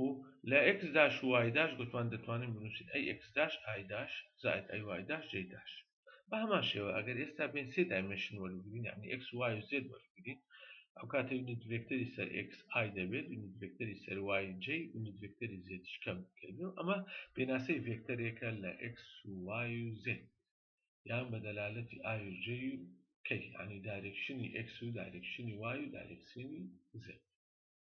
و لە ئێکس داش و وای داش گوتمان دەتوانین بنووسین ئەی ئێکس داش ئای داش زائید ئەی وای داش جەی داش. بە هەمان شێوە ئەگەر ئێستا بێین سێ دایمێنشن وەربگرین یانی ئێکس و وای و زێد وەربگرین ئەو کاتە یونت ڤێکتەری سەر ئێکس ئای دەبێت یونت ڤێکتەری سەر وای جەی یونت ڤێکتەری زێدیش کەم بکەین و ئەمە پێناسەی ڤێکتەرێکە لە ئێکس و وای و زێد یان بە دەلالەتی ئای و جەی و کەی یانی دایرێکشنی ئێکس و دایرێکشنی وای و دایرێکسینی زێد.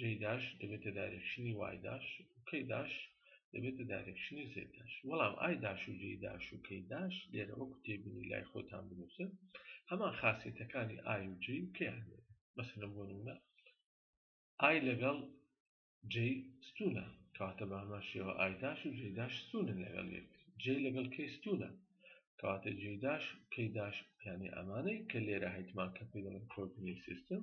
جەی داش دەبێتە دایرێکشنی وای داش و کەی داش دەبێتە دایرێکشنی زێد داش وەڵام ئای داش و جەی داش و کەی داش لێرە وەکو تێبینی لای خۆتان بنووسن هەمان خاسیەتەکانی ئای و جەی و کەیان لێرە مەسەلەن بۆ نمونە ئای لەگەڵ جەی ستونە کەواتە بە هەمان شێوە ئای داش و جەی داش ستونن لەگەڵ یەک جەی لەگەڵ کەی ستونە کەواتە جێداش کەیداش یانی ئەمانەی کە لێرە هەیتمان کە پێ دەڵێن کۆردنی سیستم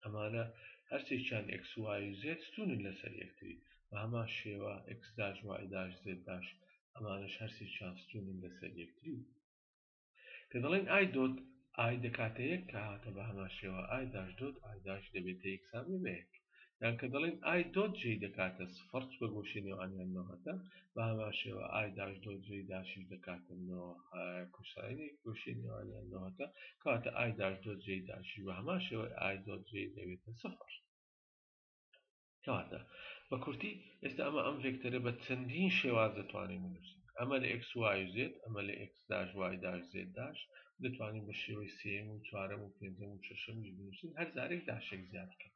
ئەمانە هەرسێکیان ئێکس وای و زێد ستوونن لەسەر یەکتری، بەهەمان شێوە ئێکس داش وای داش زێد داش ئەمانەش هەرسێکیان ستوونن لەسەر یەکتری و کە دەڵێین ئای دۆت ئای دەکاتە یەک کە هاتە بەهەمان شێوە ئای داش دۆت ئای داش دەبێتە یەکسانبێ بە یەک یان کە دەڵێین ئای دۆت جەی دەکاتە سفڕ چ بە گۆشەی نێوانیان نۆهەتە بە هەمان شێوە ئای داش دۆ جێی داشیش دەکاتە نۆ کوساینی گۆشەی نێوانیان نۆهەتە کەواتە ئای داش دۆ جێی داشی بە هەمان شێوە ئای دۆ جێ دەبێتە سفر کەواتە بە کورتی ئێستا ئەمە ئەم ڤێکتەرە بە چەندین شێواز دەتوانین بنووسین ئەمە لە ئکس وای زێت ئەمە لە ئکس داش وای داش زێت داش دەتوانین بە شێوەی سێم و چوارەم و پێنجەم و شەشەمیش بنووسین هەر زارێک داشێک زیاد بکەین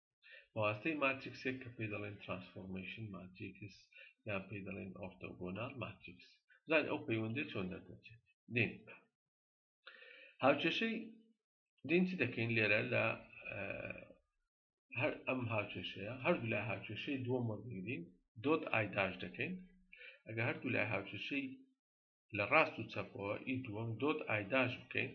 بەواستەی ماتریکسێک کە پێی دەڵێن ترانسفۆرمەیشن ماتریکس یان پێی دەڵێن ئۆرتۆگۆنال ماتریکس زان ئەو پەیوەندی چۆن دەردەچێت دێن هاوکێشەی دێن چی دەکەین لێرە لە هەر ئەم هاوکێشەیە هەردوو لای هاوکێشەی دووەم وەرگرین دۆت ئایداش دەکەین ئەگە هەردوو لای هاوکێشەی لە ڕاست و چەپەوە ی دووەم دۆت ئای داش بکەین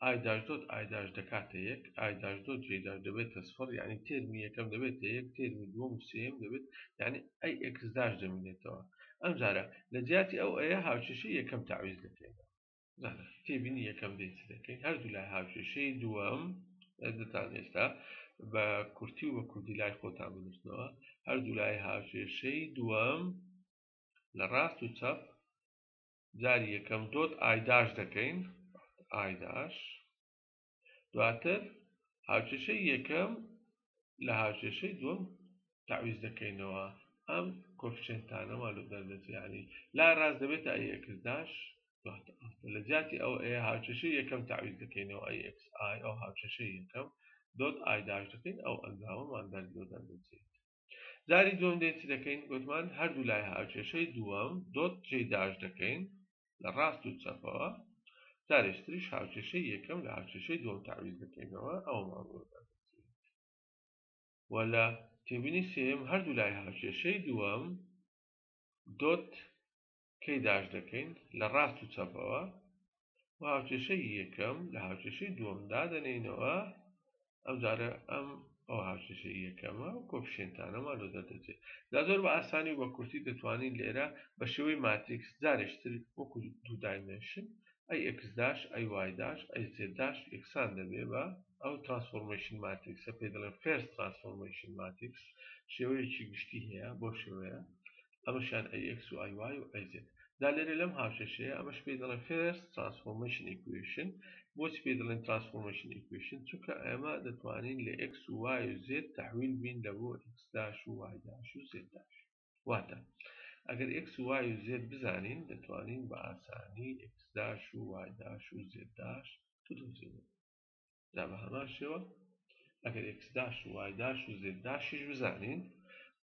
ئای داش دۆت ئای داش دەکاتە یەک ئای داش دۆت جەی داش دەبێتە سفڕ یانی تێرمی یەکەم دەبێتە یەک تێرمی دووەم و سێیەم دەبێت یانی ئەی ئێکس داش دەمینێتەوە ئەمجارە لە جیاتی ئەو ئەیە هاوکێشەی یەکەم تەعویز دەکەینەوە زانە تێبینی یەکەم دەی چ دەکەین هەردوو لای هاوکێشەی دووەم دەتان ئێستا بە کورتی و بە کوردی لای خۆتان بنووسنەوە هەردوو لای هاوکێشەی دووەم لە ڕاست و چەپ جاری یەکەم دۆت ئایداش دەکەین ئایداش دواتر هاوکێشەی یەکەم لە هاوکێشەی دوم تعویز دەکەینەوە ئەم کۆفشنتانەوە لە دەردەچیانی لا ڕاست دەبێتە ئەی ئەکرداش لە جیاتی ئەو ئەیە هاوکێشەی یەکەم تعویز دەکەینەوە ئەی ئەکس ئای ئەو هاوکێشەی یەکەم دۆت ئایداش دەکەین ئەو ئەنجامەمان دەردۆ دەردەچێت جاری دووەم دێ چ دەکەین گوتمان هەردوو لای هاوکێشەی دووەم دۆت جێ داش دەکەین لە ڕاست و چەپەوە جارێش تریش هاوکێشەی یەکەم لە هاوکێشەی دووەم تعویز دەکەینەوە ئەومان بۆ و لە تێبینی سێم هەردوو لای هاوکێشەی دووەم دۆت کەی داش دەکەین لە ڕاست و چەپەوە و هاوکێشەی یەکەم لە هاوکێشەی دووەم دادەنێینەوە ئەمجارە ئەم ئەو هاوکێشەی یەکەمە و کۆپشێنتانەمان لۆ دەردەچێت دا زۆر بە ئاسانی و بە کورتی دەتوانین لێرە بە شێوەی ماتریکس جارێشتر وەکو دوو دایمێنشن ئەی ئەکس داش ئەی وای داش ئەی زێد داش یەکسان دەبێ بە ئەو ترانسفۆرمەیشن ماتریکسە پێ دەڵێن فێرس ترانسفۆرمەیشن ماتریکس شێوەیەکی گشتی هەیە بۆ شێوەیە ئەمەشیان ئەی ئێکس و ئای وای و ئەی زێد دا لێرە لەم هاوکێشەیە ئەمەش پێی دەڵێن فێرست ترانسفۆرمەیشن ئیکوەیشن بۆچی پێی دەڵێن ترانسفۆرمەیشن ئیکوەیشن چونکە ئێمە دەتوانین لە ئێکس و وای و زێد تەحویل بین لە بۆ ئێکس داش و وای داش و زێد داش واتە ئەگەر ئێکس و وای و زێد بزانین دەتوانین بە ئاسانی ئێکس داش و وای داش و زێد داش بدۆزینەوە جا بە هەمان شێوە ئەگەر ئێکس داش و وای داش و زێد داشیش بزانین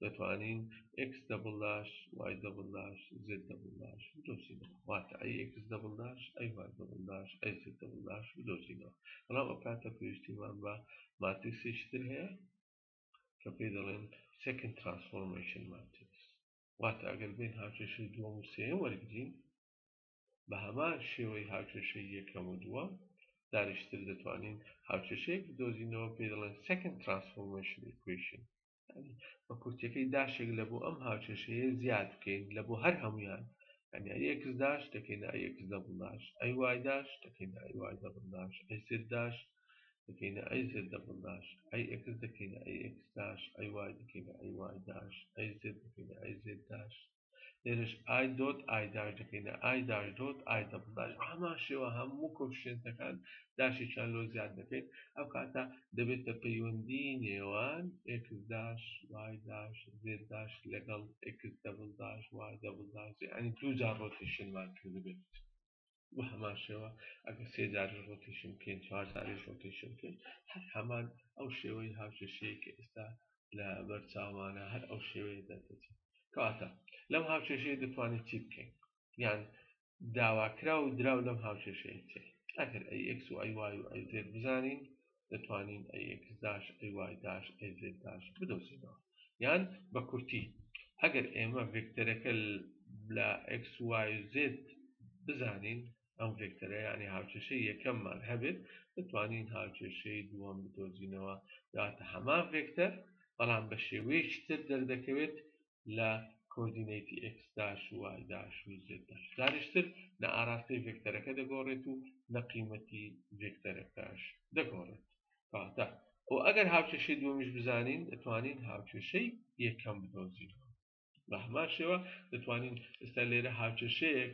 دەتوانین ئێکس دەبڵ داش وای دەبڵ داش زێد دەبڵ داش بدۆزینەوە واتە ئەی ئێکس دەبڵ داش ئەی وای دەبڵ داش ئەی زێد دەبڵ داش بدۆزینەوە بەڵام ئەو کاتە پێویستیمان بە ماتریسێکی تر هەیە کە پێی دەڵێن سێکن ترانسفۆرمەیشن ماتریس واتە ئەگەر بین هاوکێشەی دووەم و سێیەم وەرگین بە هەمان شێوەی هاوکێشەی یەکەم و دووەم دانیشتر دەتوانین هاوکێشەیەک بدۆزینەوە پێی دەڵێن Second Transformation Equation یانی بە کورتیەکەی داشێک لە بۆ ئەم هاوکێشەیە زیاد بکەین لە بۆ هەر هەمویان یعنی ئەی ئێکس داش دەکەینە ئەی ئێکس دەبڵ داش ئەی وای داش دەکەینە ئەی وای دەبڵ داش ئەی زد داش دەکەینە ئەی زد دەبڵ داش ئەی ئێکس دەکەینە ئەی ئێکس داش ئەی وای دەکەینە ئەی وای داش ئەی زد دەکەینە ئەی زد داش لێرەش ئای دۆت ئای داش دەکەینە ئای داش دۆت ئای دەبڵ داش بە هەمان شێوە هەموو کۆفیشێنتەکان داشێکیان لۆ زیاد دەکەین ئەو کاتە دەبێتە پەیوەندی نێوان ئێکس داش وای داش زێد داش لەگەڵ ئێکس دەبڵ داش وای دەبڵ داش یانی دوو جار ڕۆتیشنمان کردبێت بە هەمان شێوە ئەگە سێ جاریش ڕۆتیشن بکەین چوار جاریش ڕۆتیشن بکەین هەر هەمان ئەو شێوەی هاوکێشەیە کە ئێستا لە بەرچاوانە هەر ئەو شێوەیە دەردەچێت کەواتە لەم هاوکێشەیە دەتوانین چی بکەین یان داواکرا و دراو لەم هاوکێشەیە چێت ئەگەر ئەی ئەکس و ئەی وای و ئەی زێت بزانین دەتوانین ئەی ئێکس داش ئەی وای داش ئەی زێد داش بدۆزینەوە یان بە کورتی ئەگەر ئێمە ڤێکتەرەکە لە ئەکس وای زێد بزانین ئەم ڤێکتەرە ینی هاوچێشەی یەکەممان هەبێت دەتوانین هاوچێشەی دووەم بدۆزینەوە دواتە هەمان ڤێکتەر بەڵام بە شێوەیەکی تر دەردەکەوێت لە کۆردینەیتی ئێکس داش و وای داش و زێد داش. جارێکی تر نە ئاراستەی ڤێکتەرەکە دەگۆڕێت و نە قیمەتی ڤێکتەرەکەش دەگۆڕێت. کەواتە خۆ ئەگەر هاوکێشەی دووەمیش بزانین دەتوانین هاوکێشەی یەکەم بدۆزینەوە. بە هەمان شێوە دەتوانین ئێستا لێرە هاوکێشەیەک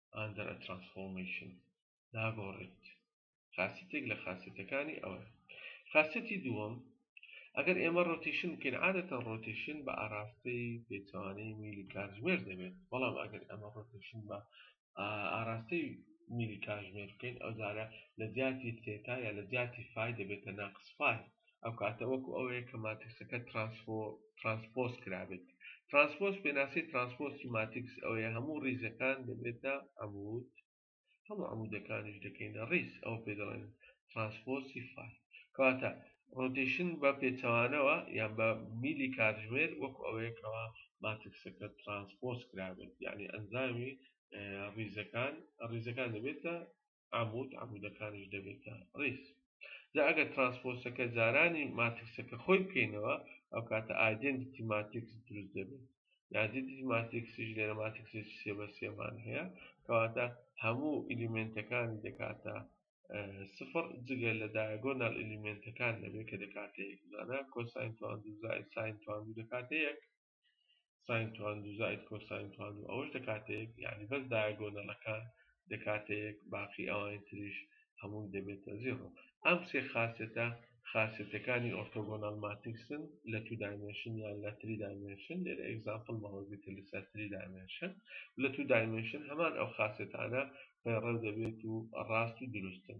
Under a Transformation، ناگۆڕێت. خاسیتێک لە خاسیتەکانی ئەوە. خاسیتی دووەم، ئەگەر ئێمە ڕۆتیشن بکەین عادەتەن ڕۆتیشن بە ئاراستەی پێچەوانەی میلی کاتژمێر دەبێت بەڵام ئەگەر ئەمە ڕۆتیشن بە ئاراستەی میلی کاتژمێر بکەین ئەو جارە لە جیاتی تێتا یا لە جیاتی فای دەبێتە ناقس فای ئەو کاتە وەکو ئەوەیە کە ماتریسەکە ترانسپۆز کرابێت ترانسپۆز پێناسی ترانسپۆسی ماتریکس ئەوەیە هەموو ڕیزەکان دەبێتە عمود هەموو عمودەکانیش دەکەینە ڕیز ئەو پێ دەڵێن ترانسپۆسی فای کەواتە ڕۆتیشن بە پێچەوانەوە یان بە میلی کاتژمێر وەکو ئەوەیەکەوە ماتریکسەکە ترانسپۆز کرابێت یعنی ئەنجامی ڕیزەکان ڕیزەکان دەبێتە عەمود، عەمودەکانیش دەبێتە ڕیز. جا ئەگەر ترانسپۆسەکە جارانی ماتریکسەکە خۆی بکەینەوە، ئەو کاتە ئایدێنتیتی ماتریکس دروست دەبێت. ئایدێنتیتی ماتریکسیش لێرە ماتریکسێکی سێ بە سێمان هەیە، کەواتە هەموو ئیلیمێنتەکانی دەکاتە سفر جگە لە دایەگۆنال ئیلیمێنتەکان دەبێت کە دەکاتە یەک، جا کۆساین تواندو زائید ساین تواندو دەکاتە یەک. ساین توان دوو زائید کۆساین توان دوو ئەوەش دەکاتە یەک یانی بەس دایەگۆنەڵەکان دەکاتە یەک باقی ئەوانی تریش هەمووی دەبێتە زیڕۆ ئەم سێ خاسێتە خاسێتەکانی ئۆرتۆگۆناڵ ماتیکسن لە تو دایمێنشن یان لە تری دایمێنشن لێرە ئێگزامپڵ مەوەگرتە لەسەر تری دایمێنشن لە تو دایمێنشن هەمان ئەو خاسێتانە پەیڕەو دەبێت و ڕاست و دروستن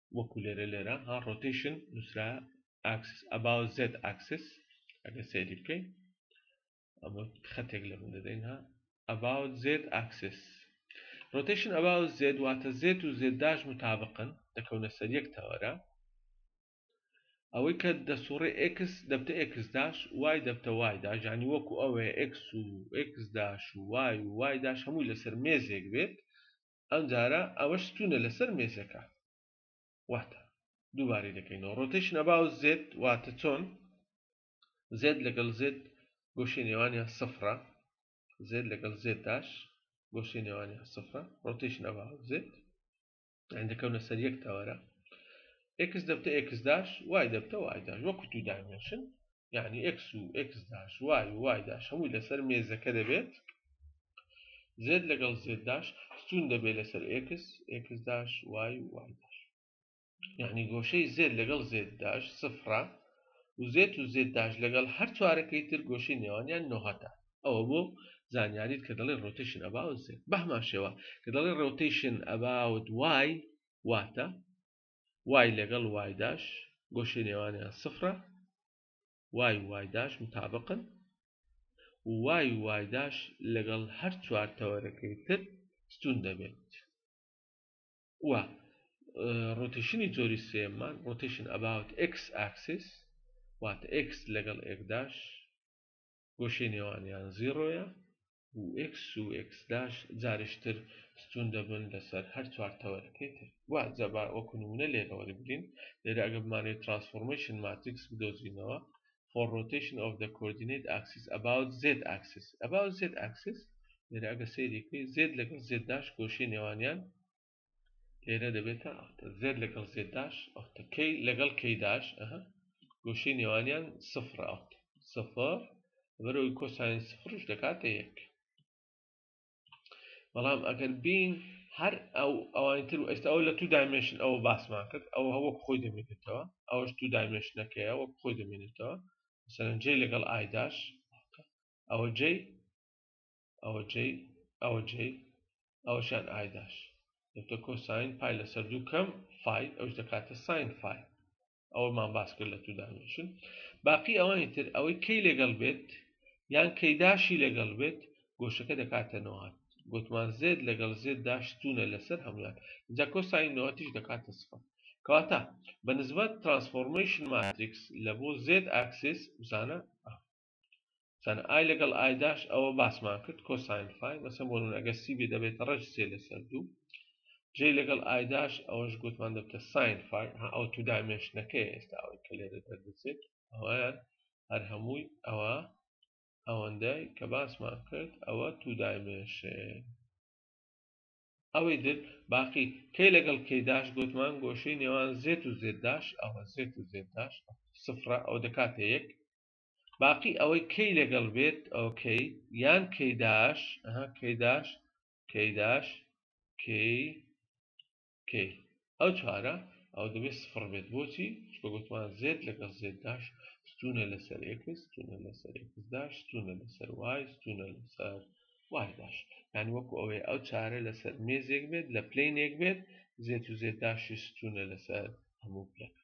وەکو لێرە لێرە ها ڕۆتیشن نووسرا ئاکسس ئەباو زێت ئاکسس ئەگە سێری بکەین ئەمە خەتێک لە من دەدەین ها ئەباو زێت ئاکسس ڕۆتیشن ئەباو زێت واتە زێت و زێدداش متابقن دەکەونە سەر یەک تەوەرە ئەوەی کە دەسوڕێ ئکس دەبتە ئکس داش وای دەبتە وای داژانی وەکو ئەوێ ئکس و ئکس داش و وای و وای داش هەمووی لەسەر مێزێک بێت ئەمجارە ئەوەش ستونە لەسەر مێزەکە واتە دووبارەی دەکەینەوە ڕۆتەیشن ئەباو زێت واتە چۆن زێت لەگەڵ زێت گۆشەی نێوانیان سفرە زێت لەگەڵ زێت داش گۆشەی نێوانیان سفرە ڕۆتەیشن ئەباو زێت دەکەونە سەر یەک تەوەرە ئێکس دەبتە ئێکس داش وای دەبتە وای داش وەکو دوو دایمێنشن یعنی ئکس و ئکس داش وای و وای داش هەمووی لەسەر مێزەکە دەبێت زێت لەگەڵ زێت داش ستون دەبێت لەسەر ئکس ئکس داش وای و وای داش یعنی گۆشەی زێت لەگەڵ زێت داش سفرە و زێت و زێت داش لەگەڵ هەر چوارەکەی تر گۆشەی نێوانیان نۆهەتە ئەوە بۆ زانیاریت کە دەڵێ ڕۆتیشن ئەبا و زێت بەهمان شێوە کە دەڵێ ڕۆتیشن ئەباوت وای واتە وای لەگەڵ وای داش گۆشەی نێوانیان سفرە وای وای داش متابقن و وای وای داش لەگەڵ هەر چوار تەوەرەکەی تر ستون دەبێت و ڕۆتیشنی جۆری سێمان ڕۆتیشن ئەباوت ئکس ئاکسیس واتە ئکس لەگەڵ ئێکداش گۆشەی نێوانیان زیڕۆیە و ئێکس و ئێکس داش جاریش تر ستوون دەبن لەسەر هەر چوار تەوەرەکەی تر وا جا با وەکو نموونە لێرە وەربگرین لێرە ئەگەر بمانەوێت ترانسفۆرمەیشن ماتریکس بدۆزینەوە for rotation of the coordinate axis about z axis about z axis لێرە ئەگەر سەیری بکەین z لەگەڵ z داش گۆشەی نێوانیان لێرە دەبێتە ئەفتە زێت لەگەڵ زێداش ئەفتە کەی لەگەڵ کەیداش ئەها گۆشەی نێوانیان سفر ئەفت سفر بەرەوەی کۆسانی سفرش دەکاتە یەک بەڵام ئەگەر بین هەر ئەو ئەوانی تر و ئێستا ئەو لە تو دایمێشن ئەوە باسمان کرد ئەو هەوە خۆی دەمێنێتەوە ئەوش تو دایمێشنەکەیە وەک خۆی دەمێنێتەوە سەرنجەی لەگەڵ ئایداش ئەوە جێی ئەوە جەی ئەوە جەی ئەوەشان ئایداش دەبتە کۆساین پای لەسەر دوو کەم فای ئەوش دەکاتە ساین فای ئەوەمان باس کرد لە تودانشن باقی ئەوانی تر ئەوەی کەی لەگەڵ بێت یان کەیداشی لەگەڵ بێت گۆشەکە دەکاتە نەوات گوتمان زێت لەگەڵ زێت داشتونە لەسەر هەموان جا کۆساین نەوەتیش دەکاتە سفر کەواتە بە نسبەت ترانسفۆرمیشن ماتریکس لە بۆ زێت ئاکسس بزانە سان ئای لەگەڵ ئایداش ئەوە باسمان کرد کۆساین فای مەسە بۆ نونەگە سی بێ دەبێتە ڕێژ سێ لەسەر دوو جێ لەگەڵ ئایداش ئەوەش گوتمان دەبتە ساین فای ئەو تو دامێشتەکەی ئێستا ئەوەی کە لێرە دەردەچێت ئەویان هەر هەمووی ئەوە ئەوەندەی کە باسمان کرد ئەوە تو دامێشێ ئەوەی در باقی کەی لەگەڵ کەیداش گوتمان گۆشەی نێوان زێت و زێداش ئەوە زێت و زێداش سفرە ئەو دەکاتە یەک باقی ئەوەی کەی لەگەڵ بێت ئەو کەی یان کەی داش کەی داش کەی داش کەی کەی ئەو چوارە ئەو دەبێت سفر بێت بۆچی چکە گوتمان زێت لەگەڵ زێت داش ستونە لەسەر ئێکس ستونە لەسەر ئێکس داش ستونە لەسەر وای ستونە لەسەر وای داش یان وەکو ئەوەی ئەو چارە لەسەر مێزێک بێت لە پلینێک بێت زێت و زێت داشی ستونە لەسەر هەموو پلەکە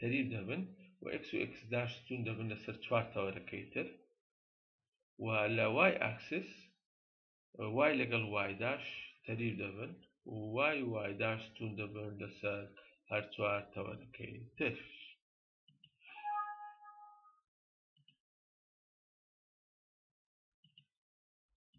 تەریب دەبن و ئێکس و ئێکس داش ستوون دەبن لەسەر چوار تەوەرەکەی تر و لە وای ئاکسس وای لەگەڵ وایداش تەریب دەبن و وای وایداش ستوون دەبن لەسەر هەر چوار تەوەرەکەی تر